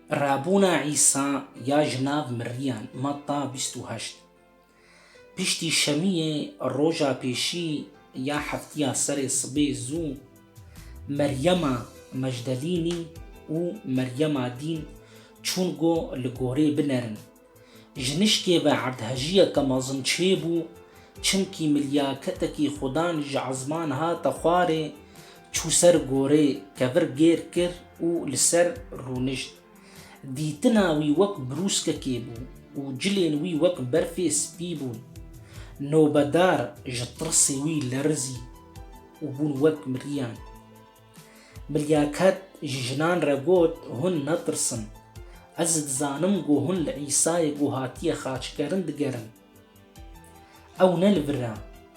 Rabûna Îsa ya ji nav miriyan, Mata bîst û heşt Piştî şemiyê roja pêşî ya heftiya serê sibê zû Meryema Mejdalînî û Meryema dîn çûn go li gorê binerin Ji nişkê ve erdhejîya te mezin çêbû, çimkî milyaketekî xudan ji ezman hate xwarê, çû ser gorê, kevir gêr kir û li ser rûnişt. Dîtina wî wek brûskekê bû û cilên wî wek berfê spî bûn. Nobedar ji tirsê wî lerizî û bûn wek miriyan. Bilya Kat ji jinan re got, Hûn netirsin. Ez dizanim ku hûn li Îsayê ku hatiye xaçkirin digerin. Ew ne li vir e,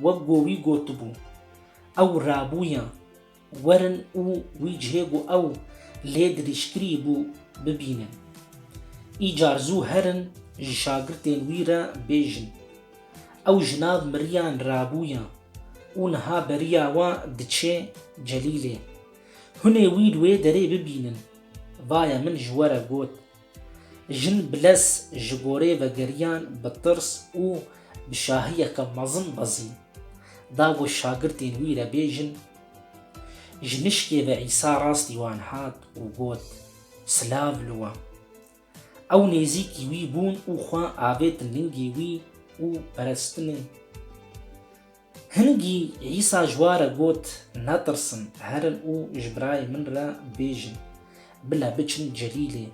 wek ku wî gotibû. Ew rabûye. Werin û wî cihê ku ew lê dirîj kirî bû bibînin. Îcar zû herin ji şagirtên wî re bêjin. Ew ji nav miriyan rabûye û niha beriya we diçe Celîlê. Hunê wî li wê derê bibînin. Vaye min ji we re got. Jin bi lez ji gorê vegeriyan bi tirs û bi şahiyeke mezin bezî. Da got şagirtên wî re bêjin. Ji nişkê ve Îsa rastî wan hat û got, Silav li we! Ew nêzîkî wî bûn û xwe avêtin lingê wî û perestinê. Hingî Îsa ji wa re got, Netirsin, herin û ji birayê min re bêjin, bile biçin Celîlê,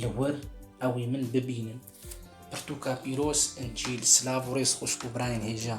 li wir ew ê min bibînin. Pirtûka Pîroz, Încîl, silav û rêz xwişk û birayên hêja.